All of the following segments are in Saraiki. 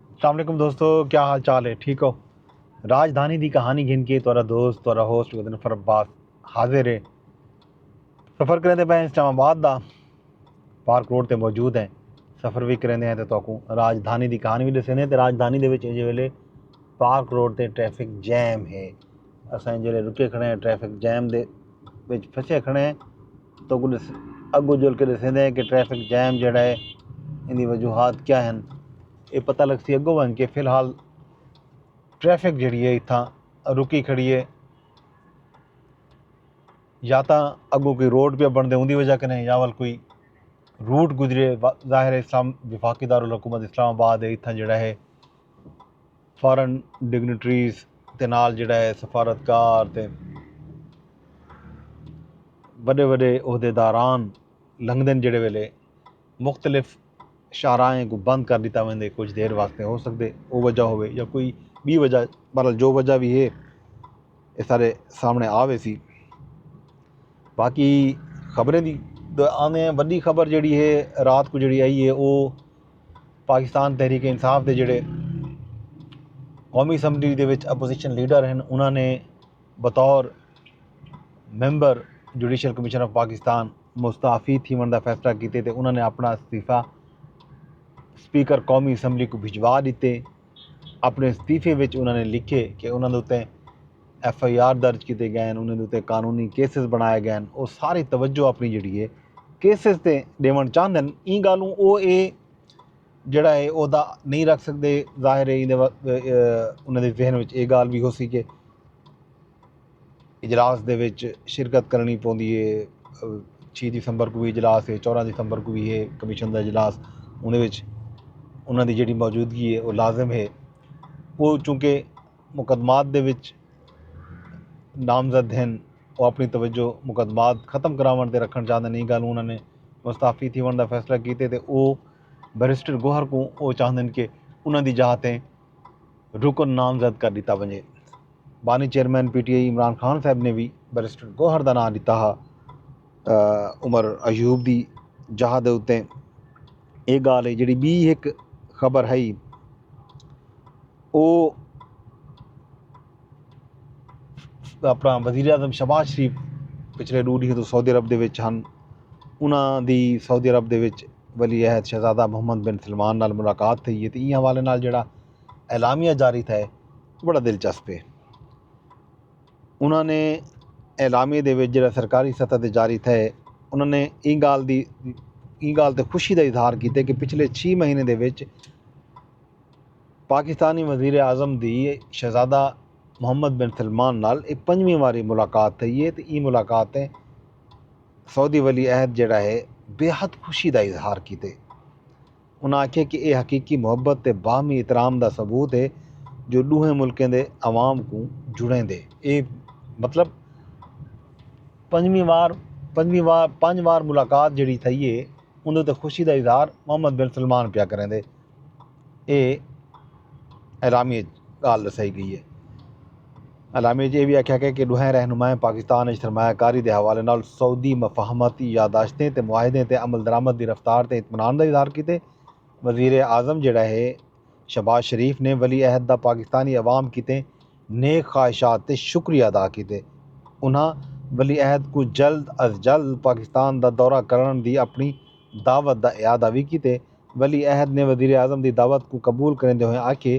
السلام علیکم دوستو کیا حال چال ہے ٹھیک ہو راجدھانی دی کہانی گھن کے تورا دوست تورا ہوسٹ گدن فر عباس حاضر ہے سفر کریں دے پہ اسلام آباد دا پارک روڈ تے موجود ہیں سفر بھی کریں دے ہیں تے تو کو راجدھانی دی کہانی بھی دسیں دے ہیں تے راجدھانی دے وچ اجے ویلے پارک روڈ تے ٹریفک جیم ہے اساں جیلے رکے کھڑے ہیں ٹریفک جیم دے وچ پھسے کھڑے ہیں تو کل اگو جل کے دسیندے ہیں کہ ٹریفک جیم جیڑا ہے ان دی وجوہات کیا ہیں یہ پتہ لگ سی اگو ون کے فی الحال ٹریفک جیڑی ہے اتھاں رکی کھڑی ہے یا تاں اگو کوئی روڈ پہ بن دے ان دی وجہ کنے یا ول کوئی روٹ گزرے ظاہر اسلام وفاقی دارالحکومت اسلام آباد ہے اتھاں جیڑا ہے فارن ڈگنیٹریز تے نال جیڑھا ہے سفارتکار تے وݙے وݙے عہدے داران لنگدن جیڑھے ویلے مختلف شاہراہیں کوں بند کر ݙتا ویندے کجھ دیر واسطے ہو سڳدے او وجہ ہووے یا کوئی ٻی وجہ بہرحال جو وجہ وی ہے اے سارے سامݨے آ ویسی باقی خبریں دی آندے ہیں وݙی خبر جیڑھی ہے رات کوں جیڑھی آئی ہے او پاکستان تحریک انصاف دے جڑے قومی اسمبلی دے وچ اپوزیشن لیڈر ہیں انہوں نے بطور member judicial commission of Pakistan مستعفی تھی من دا فیصلہ کیتے تے انہوں نے اپنا استعفی سپیکر قومی اسمبلی کو بھجوا دیتے اپݨے استعفے وچ انہاں نے لکھیے کہ انہاں دے اتے ایف آئی آر درج کیتے گئے ہن انہاں دے اتے قانونی کیسز بݨائے گئے ہن او ساری توجہ اپݨی جیڑھی ہے کیسز تے ݙیوݨ چاہندے ہن ایں ڳالھوں او اے جیڑھا ہے عہدہ نہیں رکھ سکدے ظاہر ہے انہاں دے ذہن وچ اے ڳالھ بھی ہوسی کہ اجلاس دے وچ شرکت کرݨی پوندی اے، چھی دسمبر کوں وی اجلاس اے، چوداں دسمبر کوں وی اے کمیشن دا اجلاس، اوندے وچ انہاں دی جیڑھی موجودگی اے او لازم اے، او چونکہ مقدمات دے وچ نامزد ہن، او اپݨی توجہ مقدمات ختم کراوݨ تے رکھݨ چاہندن، ایں ڳالھوں انہاں نے مستعفی تھیوݨ دا فیصلہ کیتے تے او بیرسٹر گوہر کوں او چاہندن کہ انہاں دی جاہ تے رکن نامزد کر ݙتا ونڄے۔ بانی chairman P T I Imran Khan sahib نے وی بیرسٹر گوہر دا ناں ݙتا ہا عمر ایوب دی جاہ دے اتے اے گالھ ہے جیڑھی بی ہک خبر ہئی او اپنا وزیر اعظم شہباز شریف پچھلے ݙو ݙینہہ توں سعودی عرب دے وچ ہن انہاں دی سعودی عرب دے وچ ولی عہد شہزادہ محمد بن سلمان نال ملاقات تھئی ہے تے ایں حوالے نال جیڑھا اعلامیہ جاری تھئے بڑا دلچسپ اے۔ انہاں نے اعلامیے دے وچ جیڑھا سرکاری سطح تے جاری تھئے انہاں نے ایں گالھ دی ایں گالھ تے خوشی دا اظہار کیتے کہ پچھلے چھی مہینے دے وچ پاکستانی وزیر اعظم دی شہزادہ محمد بن سلمان نال اے پنجویں واری ملاقات تھئی اے تے ایں ملاقات تے سعودی ولی عہد جیڑھا اے بے حد خوشی دا اظہار کیتے۔ انہاں آکھیا کہ اے حقیقی محبت تے باہمی احترام دا ثبوت اے جو ڈوہیں ملکیں دے عوام کوں جڑیندے۔ اے مطلب پنجویں وار پنجویں وار پنج وار ملاقات جیڑھی تھئی اے اوندے اتے خوشی دا اظہار محمد بن سلمان پیا کریندے۔ اے اعلامیے اچ گالھ ڈسائی گئی اے۔ اعلامیے اچ ایہ وی آکھیا گئے کہ ڈوہیں رہنمائیں پاکستان اچ سرمایہ کاری دے حوالے نال سعودی مفاہمت، یادداشتیں تے معاہدیں تے عملدرآمد دی رفتار تے اطمینان دا اظہار کیتے۔ وزیراعظم جیڑھا ہے شہباز شریف نے ولی عہد دا پاکستانی عوام کیتے نیک خواہشات تے شکریہ ادا کیتے۔ انہاں ولی عہد کوں جلد از جلد پاکستان دا دورہ کرنڑ دی اپنڑی دعوت دا اعادہ وی کیتے۔ ولی عہد نے وزیراعظم دی دعوت کوں قبول کریندے ہوئیں آکھیے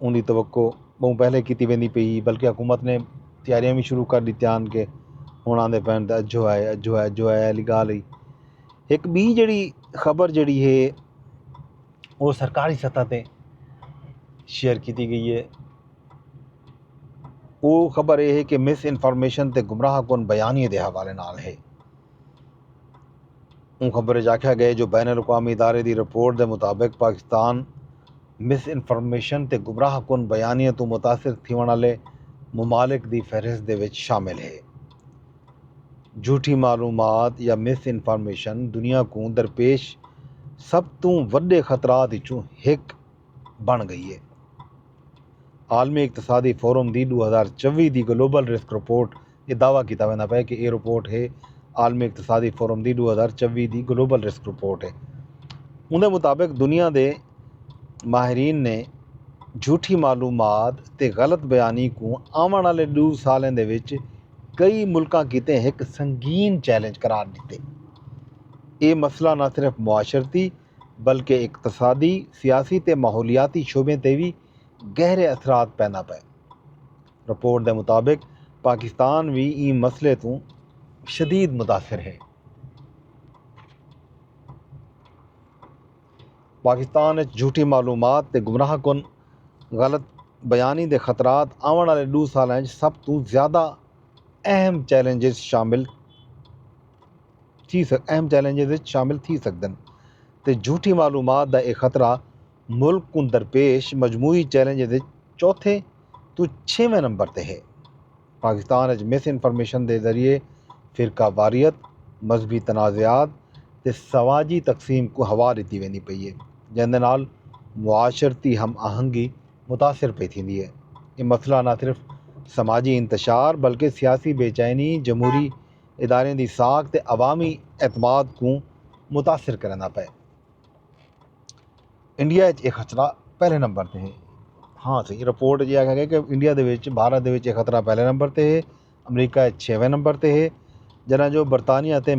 اوندی توقع بہوں پہلے کیتی ویندی پئی ہی بلکہ حکومت نے تیاریاں وی شروع کر ڈتیاں ہن کہ ہن آندے پئے ہن تے اجھو آئے اجھو آئے اجھو آئے آلی گالھ ہئی ہک بی جیڑی خبر جیڑی ہے وہ سرکاری سطح تے شیئر کیتی گئی ہے وہ خبر یہ ہے کہ مس انفارمیشن تے گمراہ کن بیانیے دے حوالے نال ہے اوں خبر اچ آکھیا گئے جو بین الاقوامی ادارے دی رپورٹ دے مطابق پاکستان مس انفارمیشن تے گمراہ کن بیانیاں توں متاثر تھیوݨ آلے ممالک دی فہرست دے وچ شامل ہے۔ جھوٹی معلومات یا مس انفارمیشن دنیا کوں درپیش سب توں وݙے خطرات اچوں ہک بݨ گئی ہے۔ عالمی اقتصادی فورم دی ݙو ہزار چووی دی گلوبل رسک رپورٹ اے دعوی کیتا ویندا پئے کہ اے رپورٹ ہے عالمی اقتصادی فورم دی ݙو ہزار چوی دی گلوبل رسک رپورٹ ہے۔ اوندے مطابق دنیا دے ماہرین نے جھوٹھی معلومات تے غلط بیانی کوں آوݨ آلے ݙو سالیں دے وچ کئی ملکاں کیتے ہک سنگین چیلنج قرار ݙتے۔ اے مسئلہ نہ صرف معاشرتی بلکہ اقتصادی، سیاسی تے ماحولیاتی شعبیں تے وی گہرے اثرات پیندا پئے۔ رپورٹ دے مطابق پاکستان وی ایں مسئلے توں شدید متاثر ہے۔ پاکستان اچ جھوٹی معلومات تے گمراہ کن غلط بیانی دے خطرات آوݨ آلے ݙو سالاں اچ سب توں زیادہ اہم چیلنجز اچ شامل تھی سڳدن تے جھوٹی معلومات دا اے خطرہ ملک کوں درپیش مجموعی چیلنجز اچ چوتھے توں چھیویں نمبر تے ہے۔ پاکستان اچ مس انفارمیشن دے ذریعے فرقہ واریت، مذہبی تنازعات تے سماجی تقسیم کوں ہوا ݙتی ویندی پئی اے جیندے نال معاشرتی ہم آہنگی متاثر پئی تھیندی اے۔ اے مسئلہ نہ صرف سماجی انتشار بلکہ سیاسی بے چینی، جمہوری اداریں دی ساکھ تے عوامی اعتماد کوں متاثر کریندا پئے۔ انڈیا اچ اے خطرہ پہلے نمبر تے ہے ہاں سی رپورٹ جی آکھا گیا کہ انڈیا دے وچ بھارت دے وچ اے خطرہ پہلے نمبر تے ہے امریکہ اچ چھیویں نمبر تے ہے جنہاں جو برطانیہ تے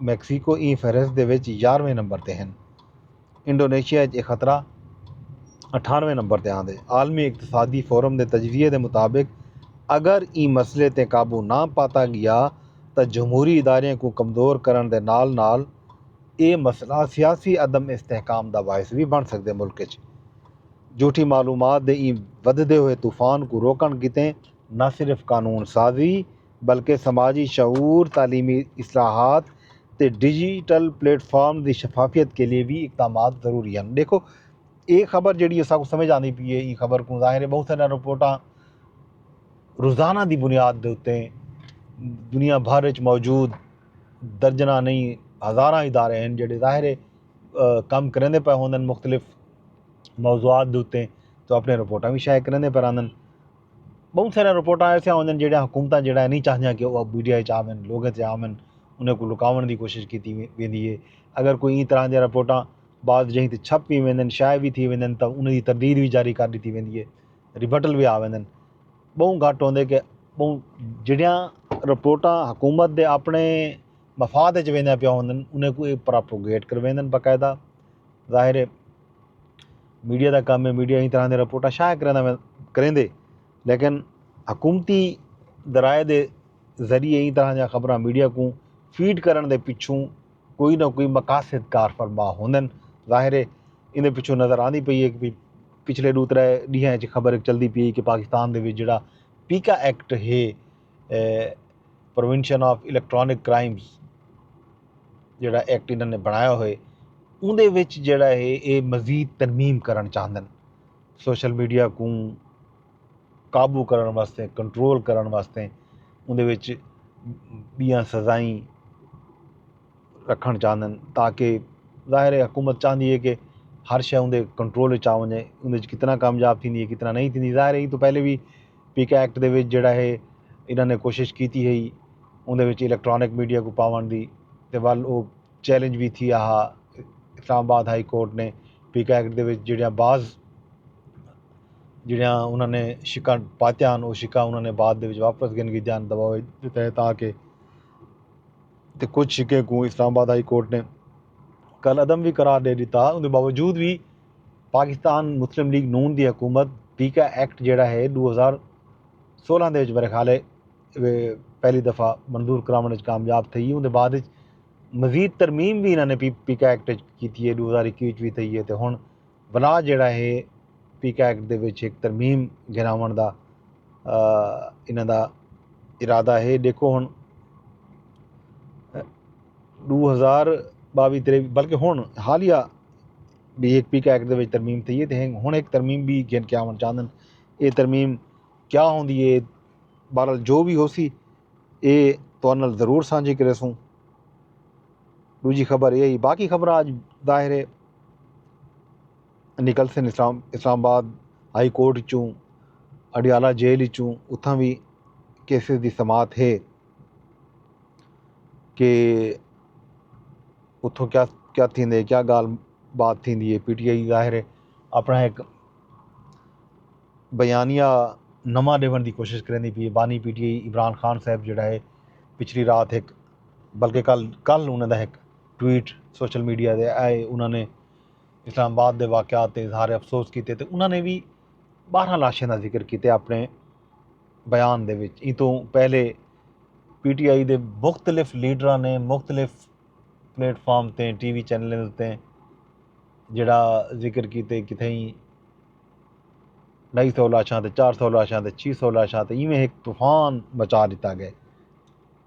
میکسیکو ایں فہرست دے وچ یارویں نمبر تے ہیں انڈونیشیا اچ اے خطرہ اٹھانویں نمبر تے آندے عالمی اقتصادی فورم دے تجزیے دے مطابق اگر ایں مسئلے تے قابو نہ پاتا گیا تاں جمہوری ادارے کو کمزور کرن دے نال نال اے مسئلہ سیاسی عدم استحکام دا باعث وی بݨ سڳدے ملک اچ جھوٹی معلومات دے ایں ودھدے ہوئے طوفان کوں روکݨ کیتے نہ صرف قانون سازی بلکہ سماجی شعور، تعلیمی اصلاحات تے ڈیجیٹل پلیٹ فارمز دی شفافیت کیلئے وی اقدامات ضروری ہن۔ ݙیکھو اے خبر جیڑھی اساکوں سمجھ آندی پئی اے ایں خبر کوں ظاہر اے ٻہوں ساریاں رپورٹاں روزانہ دی بنیاد دے اتے دنیا بھر اچ موجود درجناں نہیں ہزاراں ادارے ہن جیڑھے ظاہر ہے کم کریندے پئے ہوندن مختلف موضوعات دے اتے تو اپنی رپورٹاں وی شائع کریندے پئے رہندن بہوں ساریاں رپورٹاں ایسیاں ہوندن جیڑھیاں حکومتاں جیڑھا ہے نہیں چاہندیاں کہ وہ میڈیا اچ آون لوگاں تے آون انہیں کو لکاون دی کوشش کیتی ویندی ہے اگر کوئی ایں طرح دیاں رپورٹاں بعض جہیں تے چھپ وی ویندن شائع وی تھی ویندن تاں انہیں دی تردید وی جاری کر ڈتی ویندی ہے ریبٹل وی آ ویندن ٻہوں گھٹ ہوندے کہ ٻہوں جہڑیاں رپورٹاں حکومت دے اپنے مفاد اچ ویندیاں پیاں ہوندن انہیں کوں اے پراپوگیٹ کرویندن باقاعدہ ظاہر ہے میڈیا دا کم ہے میڈیا ہی طرح دے رپورٹاں شائع کریندا کریندے لیکن حکومتی ذرائع دے ذریعے ہی طرح دیاں خبراں میڈیا کوں فیڈ کرن دے پچھوں کوئی نہ کوئی مقاصد کار فرما ہوندن ظاہر ہے ایندے پچھوں نظر آندی پئی ہے کہ پچھلے ݙو ترے ݙینہاں اچ خبر ہک چلدی پئی ہے کہ پاکستان دے وچ جیڑھا پیکا ایکٹ ہے پروینشن آف الیکٹرانک کرائمز جیڑھا ایکٹ انہاں نے بݨایا ہوئے اوندے وچ جیڑھا ہے اے مزید ترمیم کرݨ چاہندن سوشل میڈیا کوں قابو کرݨ واسطے کنٹرول کرݨ واسطے اندے وچ ٻیاں سزائیں رکھݨ چاہندن تاکہ ظاہر ہے حکومت چاہندی ہے کہ ہر شے اندے کنٹرول وچ آ ونجے اندے وچ کتنا کامیاب تھیندی ہے کتنا نہیں تھیندی ظاہر ہے یہ تو پہلے بھی پی کے ایکٹ دے وچ جڑا ہے انہاں نے کوشش کیتی ہے اندے وچ الیکٹرانک میڈیا کو پاون دی تے ول او چیلنج بھی تھی آہا اسلام آباد ہائی کورٹ نے پی کے ایکٹ دے وچ جڑیاں بعض جیڑھیاں انہاں نے شقاں پاتیاں ہن او شقاں انہاں نے بعد دے وچ واپس گھن گھدیاں ہن دباؤ دے تحت آ کے تے کجھ شقیں کوں اسلام آباد ہائی کورٹ نے کل عدم وی قرار ڈے ڈتا اوندے باوجود وی پاکستان مسلم لیگ نون دی حکومت پی کا ایکٹ جیڑھا ہے ڈو ہزار سولہ دے وچ میرے خیال ہے پہلی دفعہ منظور کراون وچ کامیاب تھئی اوندے بعد وچ مزید ترمیم بھی انہاں نے پی کا ایکٹ کیتی ہے ڈو ہزار اکیوی وچ بھی تھئی ہے تے ہن ولا جیڑھا ہے پیکا ایکٹ دے وچ ہک ترمیم گھناوݨ دا انہاں دا ارادہ ہے ݙیکھو ہݨ ݙو ہزار ٻاوی تریوی بلکہ ہݨ حالیہ بھی ہک پیکا ایکٹ دے وچ ترمیم تھی ہے تے ہݨ ہک ترمیم بھی گھن کے آوݨ چاہندن اے ترمیم کیا ہوندی ہے بہرحال جو بھی ہوسی اے تہاݙے نال ضرور سانجھی کریسوں ڈوجھی خبر ایہ ہی باقی خبراں اج ظاہر ہے نکلسن اسلام اسلام آباد ہائی کورٹ اچوں اڈیالہ جیل اچوں اتھاں وی کیسز دی سماعت ہے کہ اتھوں کیا کیا تھیندے کیا گال بات تھیندی ہے پی ٹی آئی ظاہر ہے اپنا ایک بیانیہ نواں ڈیون دی کوشش کریندی پی ہے بانی P T I Imran Khan sahib جڑا ہے پچھلی رات ایک بلکہ کل کل انہاں دا ہک ٹویٹ سوشل میڈیا دے آئے انہاں نے اسلام آباد دے واقعات تے اظہار افسوس کیتے تے انہاں نے بھی بارہ لاشیں دا ذکر کیتے اپنے بیان دے وچ ایں توں پہلے پی ٹی آئی دے مختلف لیڈراں نے مختلف پلیٹ فارم تے ٹی وی چینلیں تے جڑا ذکر کیتے کتھیں ڈھائی سو لاشاں تے چار سو لاشاں تے چھ سو لاشاں تے ایویں ایک طوفان مچا دیتا گئے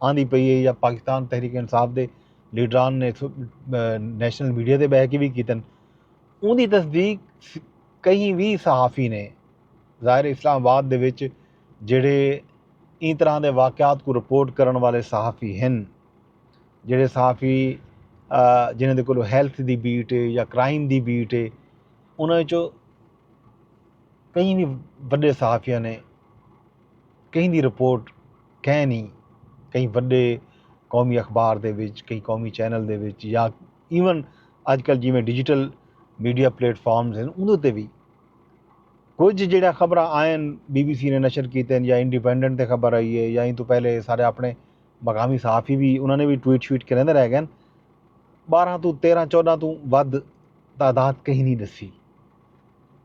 آندی پئی اے یا پاکستان تحریک انصاف دے لیڈران نے نیشنل میڈیا تے بہہ کے وی کیتن اوندی تصدیق کہیں وی صحافی نے ظاہر اسلام آباد دے وچ جڑے این طرح دے واقعات کو رپورٹ کرن والے صحافی ہن جڑے صحافی جنہیں دے کولو ہیلتھ دی بیٹ ہے یا کرائم دی بیٹ ہے انہاں وچوں کہیں وی وڈے صحافیاں نے کہیں دی رپورٹ کہیں نی کہیں وڈے قومی اخبار دے وچ کہیں قومی چینل دے وچ یا ایون اج کل جیویں ڈیجیٹل میڈیا پلیٹ فارمز ہیں اندر تے بھی کچھ جڑا خبر آئین بی بی سی نے نشر کیتے ہیں یا انڈیپینڈنٹ تے خبر آئی ہے یا ان تو پہلے سارے اپنے مقامی صحافی بھی انہوں نے بھی ٹویٹ شویٹ کریں دے رہ گئے بارہ تو تیرہ چودہ تو ود تعداد کہیں نہیں دسی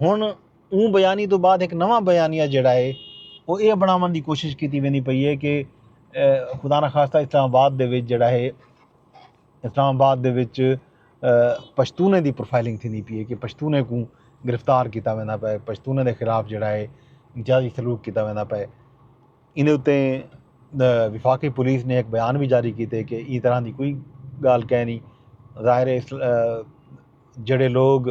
ہن اوں بیانی توں بعد ہک نواں بیانیہ جیڑھا ہے او اے بنڑاون دی کوشش کیتی ویندی پئی ہے کہ خدا نہ خواستہ اسلام آباد دے وچ جیڑھا ہے اسلام آباد دے وچ پشتونیں دی پروفائلنگ تھیندی پئی ہے کہ پشتونیں کوں گرفتار کیتا ویندا پئے پشتونیں دے خلاف جیڑھا ہے امتیازی سلوک کیتا ویندا پئے ایندے اتے وفاقی پولیس نے ہک بیان وی جاری کیتے کہ ایں طرح دی کوئی گالھ کینی ظاہر ہے جیڑھے لوگ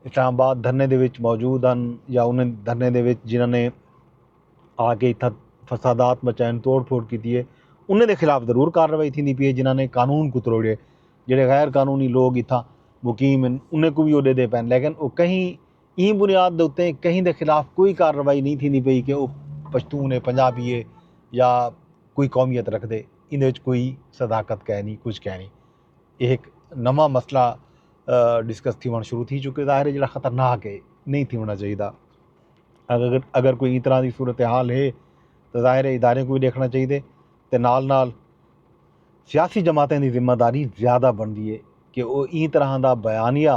اسلام آباد دھرنے دے وچ موجود ہن یا انہیں دھرنے دے وچ جنہاں نے آ کے اتھا فسادات مچائن توڑ پھوڑ کیتی ہے انہیں دے خلاف ضرور کارروائی تھیندی پی ہے جنہاں نے قانون کو تروڑے جیڑھے غیر قانونی لوگ اتھا مقیم ہیں انہیں کو بھی وہ دے دے پین لیکن وہ کہیں ایں بنیاد دے اتے کہیں دے خلاف کوئی کارروائی نئیں تھیندی پئی کہ او پشتون اے، پنجابی اے یا کوئی قومیت رکھدے، ایندے وچ کوئی صداقت کائنی، کجھ کائنی۔ اے ہک نواں مسئلہ ڈسکس تھیوݨ شروع تھی چکے ظاہر اے جیڑھا خطرناک اے، نئیں تھیوݨا چاہیدا۔ اگر کوئی ایں طرح دی صورتحال اے تاں ظاہر اے اداریں کوں وی ݙیکھݨا چاہیدے تے نال نال سیاسی جماعتیں دی ذمہ داری زیادہ بݨدی اے کہ او ایں طرح دا بیانیہ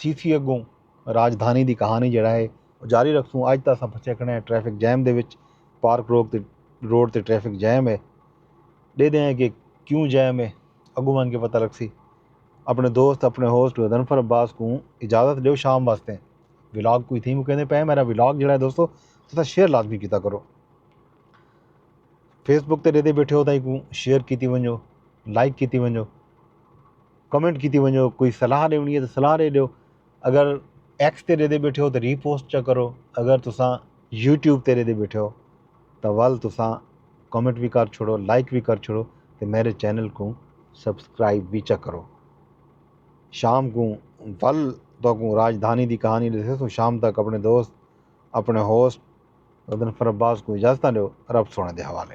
تھیسی اڳوں راجدھانی دی کہانی جیڑھا ہے او جاری رکھسوں اج تاں اساں پھسے کھڑے ہیں ٹریفک جیم دے وچ پارک روک تے روڈ تے ٹریفک جیم ہے ڈیدے ہیں کہ کیوں جیم ہے اگوں ونج کے پتہ لگسی اپنے دوست اپنے ہوسٹ غضنفر عباس کوں اجازت ڈیو شام واسطے ولاگ کوئی تھی مکیندے پئے میرا ولاگ جیڑھا ہے دوستو تساں شیئر لازمی کیتا کرو فیس بک تے ڈیدے بیٹھے ہو تاں کوں شیئر کیتی ونجو لائک کیتی ونجو کمنٹ کیتی ونجو کوئی صلاح ڈیونی ہے تے صلاح ڈے ڈیو اگر ایکس تے ڈیدے بیٹھے ہو تے ری پوسٹ چا کرو اگر تساں یوٹیوب تے ڈیدے بیٹھے ہو تاں ول تساں کمنٹ وی کر چھوڑو لائک وی کر چھوڑو تے میرے چینل کوں سبسکرائب وی چا کرو شام کوں ول تو کوں راجدھانی دی کہانی ڈسے سوں شام تک اپنے دوست اپنے ہوسٹ ردن فرباز کوں اجازتاں ڈیو رب سونے دے حوالے